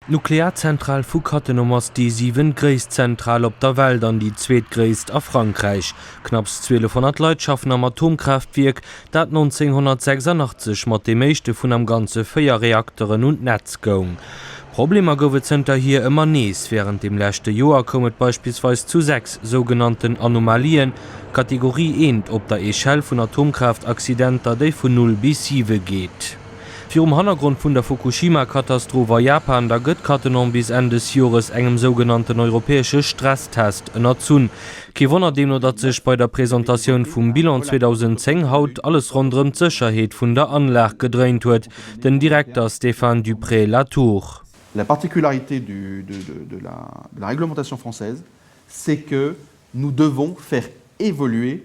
D'Nuklearzentral vu Cattenom ass déi siwentgréisst Zentral op der Welt an déi zweetgréisst a Frankräich. Knapps 1200 Leit schaffen am Atomkraaftwierk, dat 1986 mat deem éischte vun am Ganze véier Reakteren un d'Netz goung. Problemer gouf et zënterhier ëmmer nees. Wärend dem leschte Joer koum et beispillsweis zu sechs sougenannten Anomalien, Kategorie I, op der Echelle vun Atomkraaftaccidenter, déi vun null bis siwe geet. Virum Hannergrond vun der Fukushima-Katastroph a Japan, da gëtt Cattenom bis Enn des Jores engem sougenannten europäesche Stresstest ënnerzunn. Kee Wonner deemno, datt sech bei der Presentatioun vum Bilan 2010 haut alles ronderëm d'Sécherheet vun der Anlag gedréint huet. Den Direkter Stéphane Dupré-Latour. La particularité du, de, de, de la, de la réglementation française, c'est que nous devons faire évoluer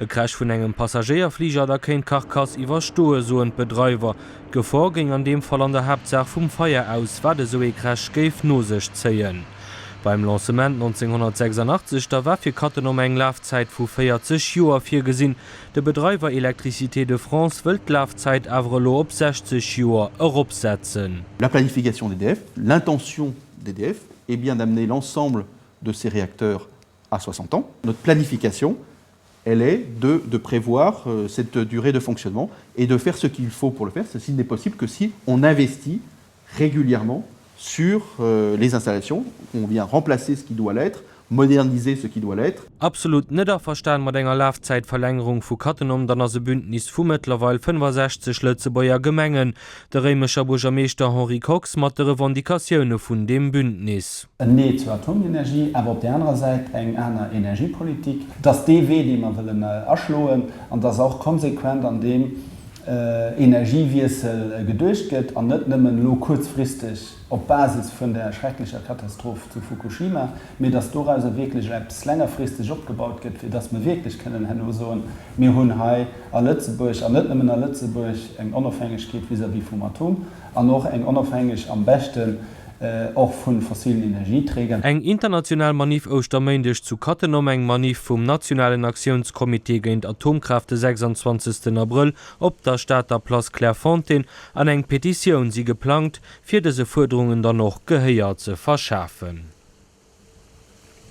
E Crash vun engem Passagéierfliger, da kéint d'Karkass iwwerstoen, soen d'Bedreiwer. D'Gefor géing an deem Fall an der Haaptsaach vum Feier aus, wat esou ee Crash géif no sech zéien. Beim Lancement 1986, da war fir Cattenom eng Lafzäit vu 40 Joer virgesinn. De Bedreiwer Électricité de France wëllt d'Lafzäit awer elo op 60 Joer eropsetzen. La planification d'EDF, l'intention d'EDF est bien d'amener l'ensemble de ces réacteurs à 60 ans. Notre planification, elle est de de prévoir cette durée de fonctionnement et de faire ce qu'il faut pour le faire. Ceci n'est possible que si on investit régulièrement sur les installations, on vient remplacer ce qui doit l'être, moderniser ce qui doit l'être. Absolut net averstan mat enger Lafzäitverlängerung vu Cattenom, dann ass e Bündnis vu mëttlerweil 65 Lëtzebuerger Gemengen, de réimecher Buergermeeschter Henri Kox mat de Revendicatioune vun deem Bündnis. en Nee zur Atomenergie, awer op där anerer Säit eng aner Energiepolitik, dass dee Wee, dee mer wëllen aschloen, an dass och konsequent an deem Energiewiessel geduecht gëtt an net nëmmen elo kuerzfristeg op Basis vun der schrecklecher Katastroph zu Fukushima, mee dass dorauser wierklech eppes längerfristeg opgebaut gëtt, fir dass mer wierklech kënnen herno soen, Mir hunn hei a Lëtzebuerg, an net nëmmen a Lëtzebuerg, eng Onofhängegkeet vis-à-vis vum Atom an och eng Onofhängeg am beschte. och vun fossilen Energieträger. Eng international Manif Ouschterméindeg zu Cattenom Eng Manif vum nationalen Aktiounscomité géint Atomkraaft de 26 Abrëll op der Stater Place Clairefontaine an eng Petitioun si geplangt, fir dëse Fuerderungen dann och Gehéier ze verschafen.